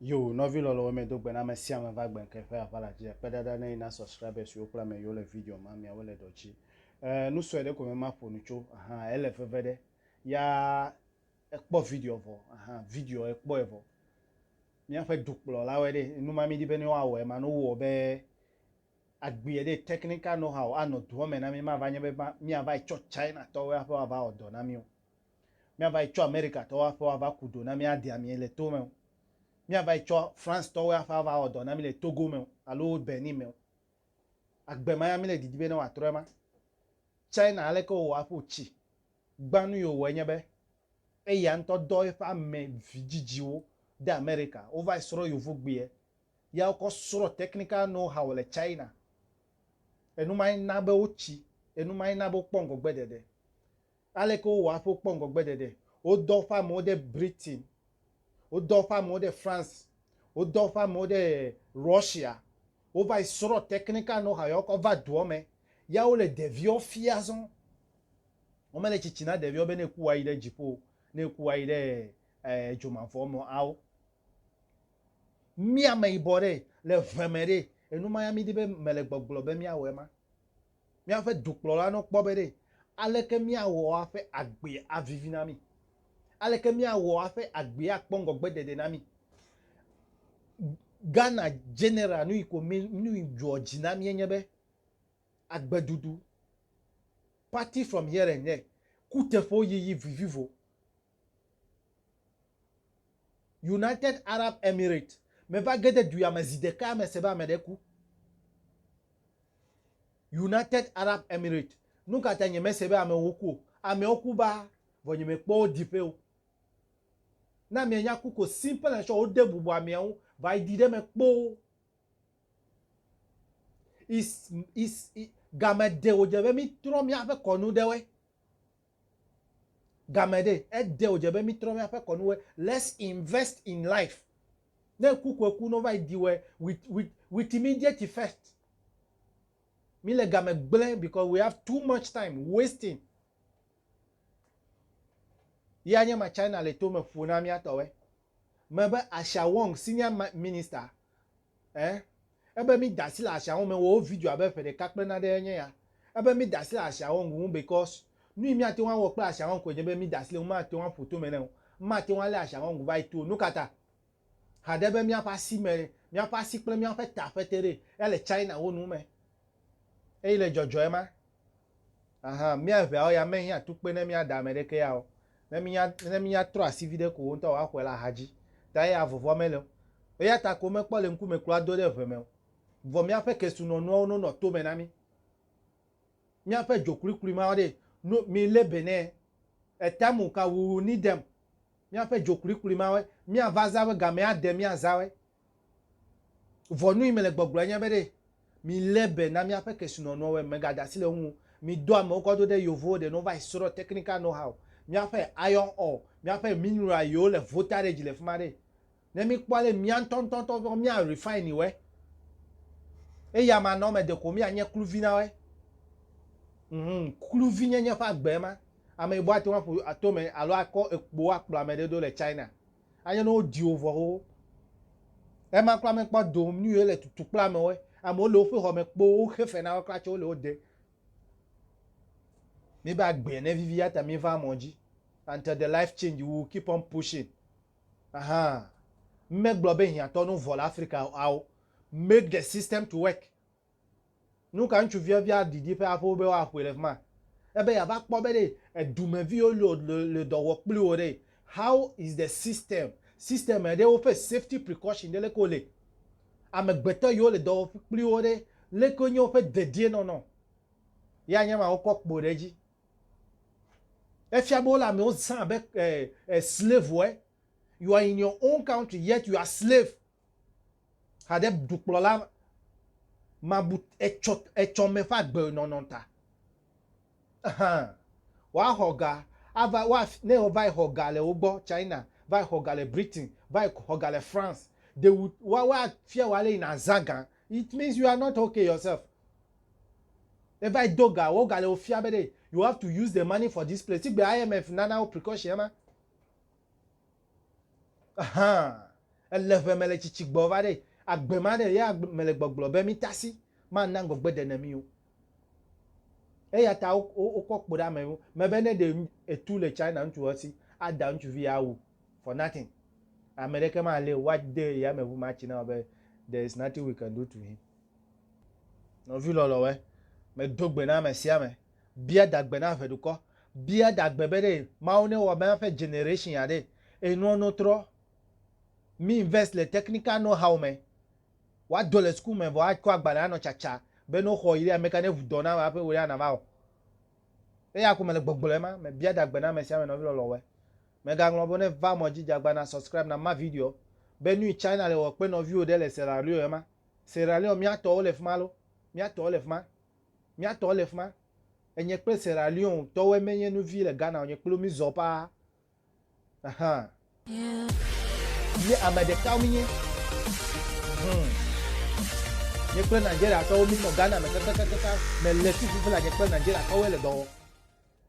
Yo nɔvi lɔlɔwo me do gbe na ame sia ame va gbe ŋke ƒe aʋala dzi akpe ɖaɖa ne yi na subscribers yiwo kple ame yiwo le video ma miawo le dɔ dzi eh nu sɔe ɖe ko me ma ƒo nu tso ahan ele veve ɖe ya ekpɔ video vɔ ahan video ekpɔ evɔ miaƒe dukplɔ la wɔ ɖe nu ma mi di be ne woa wɔ ema no wɔ be agbie ɖe technical know how anɔ doɔ me na mi ma va nye be ma mi ava etsɔ China tɔwo ya ƒe ava wɔ dɔ na mi o Míavayi tsɔ Amerikatɔwo aƒe woava ku do na mí adi ami le to me o. Míavayi tsɔ Francetɔwo aƒe ava wɔ dɔ na mí le Togo me o alo Benin me o. Agbe ma ya míle didi be ne wòatrɔ ema. China aleke wòwɔ aƒu tsi gbã nu yi wòwɔe nye be eya ŋutɔ dɔ eƒe ame vidzidziwo de Amerika. Wovayi srɔ̃ yovogbeɛ ya wokɔ srɔ̃ technical know how le China. Enu mae na be wotsi, enu mae na be wokpɔ ŋgɔgbeɖeɖe. Aleke wowɔa hafi wokpɔ ŋgɔgbeɖeɖe? Wodɔ woƒe amewo ɖe Britain. Wodɔ woƒe amewo ɖe France. Wodɔ woƒe amewo ɖe Russia. Wova yi srɔ̃ teklika na wo hafi woakɔ ava dua me. Ya wole ɖeviwo fiam azɔ. Womele tsitsi na ɖeviwo be ne eku woayi ɖe dziƒo o, ne eku woayi ɖe edzo mavɔ me o ao. Mí ameyibɔ ɖe, le ʋe me ɖe, enumaya mídi be mele gbɔgblɔ be míawɔe ma? Míaƒe dukplɔla nɔ kpɔ be ɖe aleke míawɔ aƒe agbea avivi na mí, aleke míawɔ aƒe agbea akpɔ ŋgɔgbedede na mí. Ghana General nuyi ko mí nuyi dzɔ dzi na mía nye be agbeɖuɖu, party from here and there, kuteƒewo yiyi vivivo. United Arab Emirates meva ge ɖe du ya me zi ɖeka me se be ame ɖe ku. United Arab Emirates, nu ka ta nye mese be amewo ku o? Amewo ku baa vɔ nye mekpɔ wo diƒe o. Ne amea nya ku ko simple as sure wode bubu amea ŋu va yi ɖi ɖe eme kpoo. Is is game ɖe wodze be mítrɔ míaƒe kɔnu ɖe woe. Game ɖe, ede wòdze be mítrɔ míaƒe kɔnuwoe. Let's invest in life. Ne eku ko eku, ne wova yi ɖi wɔe, with, with, with immediate effect. Míle game gblẽ because we have too much time wasting. Ye anye ma China le tome ƒo na míatɔwoe. me be Asha Wong Senior ma Minister e ebe mi da asi le Asha Wong me wɔ wo video abe ƒe ɖeka kple nane ɖe nye ya ebe mi da asi le Asha Wong ŋu because nu yi mi ate ŋu awɔ kple Asha Wong koe nye be mi da asi le ŋu ma ate ŋu aƒo tome ne o ma ate ŋu ale Asha Wong va yi to o nukata haɖe be miaƒe asi me miaƒe asi kple miaƒe ta ƒete ɖe ya le China wo nu me Eyi le dzɔdzɔe ma, ahan, mía eveawo ya menyi atukpui ne mía da ame ɖeke ya o. Ne mínya, ne mínya trɔ asi viɖe ko wo ŋutɔ woaxɔe la ahadzi. Ta eya vɔvɔ̃ mele o. Eya ta ko womekpɔ le ŋkume kura do ɖe ʋe me o. Vɔ míaƒe kesinɔnuawo no nɔ tome na mí. Míaƒe dzokluklu ma ɖee no mí lé be nɛ. Etamu ka wuwu ni dem. Míaƒe dzokluklu mawe, míava zã we gamea de mía zã we. Vɔ nu yi mele gbɔgblɔe nye be ɖe milé be na míaƒe kesinɔnuɔwɔe megade asi le eŋu o. Midɔ amewo kɔ do ɖe Yevuwo ɖe ne wova yi srɔ̃ technical know-how, míaƒe iron ore, míaƒe mineral yiwo le voltage le fima ɖe ne míkpɔ ale mía ŋutɔ ŋutɔtɔ mía refine wɔe. Eya ma nɔ eme ɖeko míanye kluvi na wɔe. Mhmm kluvi nyenye ƒe agbe ema. Ame yibo ate ŋu aƒu ato eme alo akɔ ekpo akplɔ ame ɖe do le China. Anye ne wodi wò vɔ xoxo. Ema kura mekpɔ do nu ye le tutu kple amewo. Amewo le woƒe xɔ me kpo woxe fe na wo kura tsɛ wole wo de. Míbe agbea ne vivi ya ta míva mɔ dzi until the life change we will keep on pushing. Ahaa. Megblɔ be hiãtɔ ne wovɔ le Afrika ao. Make the system to work. Nuka ŋutsuvia bia didi ƒe aƒewo be woaƒoe le fima? Ebe yeava kpɔ be ɖe edumeviwo le le dɔ wɔ kpli wò ɖe, how is the system, system ɖe woƒe safety precaution ɖe leke wole? Amegbetɔ yiwo le dɔ wɔ kpli wo ɖe leke wonye woƒe dedienɔnɔ? Ye anye ma wokɔ kpo ɖe edzi. Efia be wole amewo zã abe eh eh slave woe. You are in your own country yet you are slave Hade dukplɔla ma bu etsɔ etsɔme ƒe agbe nɔnɔ ta. Ehã, woaxɔ ga ava wa ne wova yi xɔ ga le wo gbɔ China, va yi xɔ ga le Britain, va yi xɔ ga le France. They would wa wa fia wo ale yi na za ga. It means you are not okay yourself. Eva yi do ga, wo ga le wo fia be ɖe you have to use the money for this place. Tsi gbe IMF nana wo precaution ema. Hã, ele ʋe mele tsitsi gbɔ va ɖe, agbe ma ɖe, ya mele gbɔgblɔ be mi tasi ma na ŋgɔgbe ɖe ne mi o. Eya ta wo kɔ kpo ɖe ame wo me be ne ɖe etu le China ŋutsu esi ada ŋutsuvi ya wu for nothing, ame ɖeke ma le wa de yame ŋu ma tsi na wo be there is nothing we can do to him. Nɔvi lɔlɔ wɛ, me do gbe na ame sia ame Bia dagbe na eve dukɔ. Bia dagbe be ɖe Mawu ne wɔ miaƒe generation ya ɖe enuɔ no trɔ. Mi invest le technical know how me. Wa dɔ le school me vɔ a kɔ agbalẽ a nɔ tsatsa be no xɔ yi ɖe ameka ne ʋu dɔ na ame aƒe wò ɖe a na va wɔ. Eya ko me le gbɔgblɔ ema me. Bia dagbe na ame sia ame nɔvi lɔlɔwɔe. Me ga ŋlɔ be ne va mɔ dzi djagba na subscribe na ma video be nuyi China le wɔ kpe nɔviwo ɖe le Sierra Leone ema. Sierra Leone mia tɔwo le fima lo? Mia tɔwo le fima? Mía tɔ le fima. Enye kple Sierra Leone tɔwoe me nye nu vi le Ghana wonye kplo mí zɔ paa. Ahan. Mí ame ɖekawo mí nye. Hum. Nye kple Nigeria tɔwo mí nɔ Ghana me kakakakaka. Me le fi fufu la nye kple Nigeria tɔwoe le dɔ wɔ.